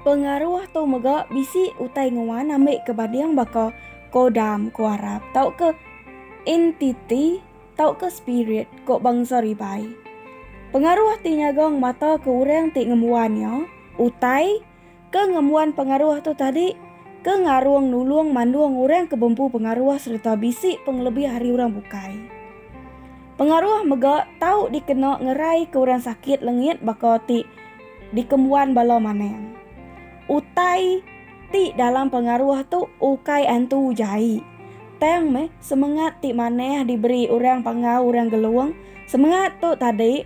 Pengaruh tu mega bisi utai nguan ambika banding baka kodam ku Arab tauka entiti tauka spirit ku bangsa Ribai. Pengaruh ti nyaga ngemataka orang ti ngembuan iya, utai ke ngembuan pengaruh tu tadi ke ngarung nulung mandung orang ke bempu pengaruh sereta bisi pengelebih ari orang bukai. Pengaruh mega tau dikena ngeraika orang sakit lengit baka ti dikembuan bala manang. Utai ti dalam pengaruh tu ukai antu jai, tang meh semengat ti manah diberi orang pangau orang Gelong, semengat tu tadi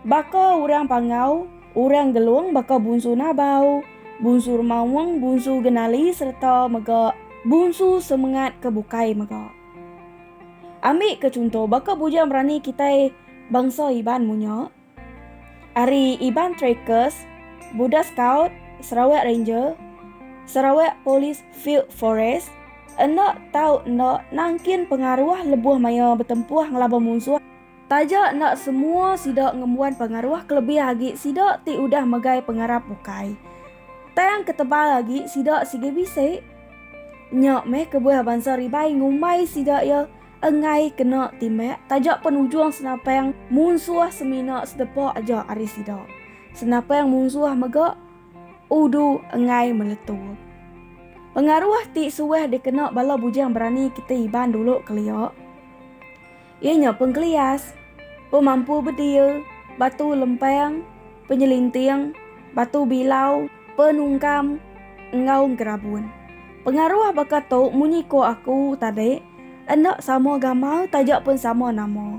baka orang pangau orang Gelong baka Bunsu Nabau, Bunsu Remaung, Bunsu Genali sereta mega bunsu semengat ke bukai mega. Ambika chunto baka Bujang Berani kitai bangsa Iban munyo. ari Iban Trackers, Buda Scout, Sarawak Ranger, Sarawak Police Field Force, enda tau enda nangkin pengaruh lebuh maya betempuh ngelaban munsuh, taja enda semua sida ngembuan pengaruh kelebih agi sida ti udah megai pengarap bukai. Tang ketebal agi sida sigi bisi. Nya meh kebuah bansa Ribai ngumbai sida iya. enggai kena timbak taja pen ujung senapang munsuh semina sedepa aja ari sida. Senapang munsuh mega udu enggai meletup. Pengaruh ti suah dikena bala bujang berani kitai Iban dulu kelia iya nya pengkelias, pemampu bedil, batu lempang, penyelinting, batu bilau, Penungkam enggau gerabun. Pengaruh baka tu munyi ko aku tadi enda sama gamal taja pun sama nama.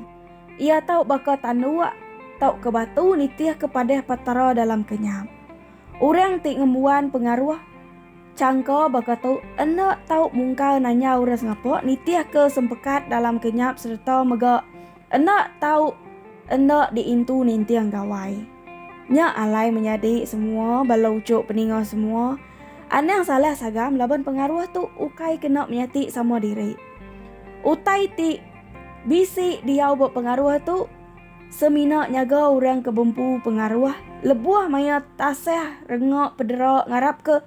Iya tau baka tanduk tauka batu nitih ke padah Petara dalam kenyap. Orang ti ngembuan pengaruh changka baka tu enda tau mungkal nanya orang sengapa nitih ke sempekat dalam kenyap sereta mega. Enda tau enda diintu ninting Gawai. Nya alai menyadi semua bala uchu peninga semua anang salah sagam laban pengaruh tu ukai kena menyati sama diri. Utai ti bisi diau ba pengaruh tu semina nyaga orang ke bempu pengaruh lebuh maya tasah renga pedera ngarapka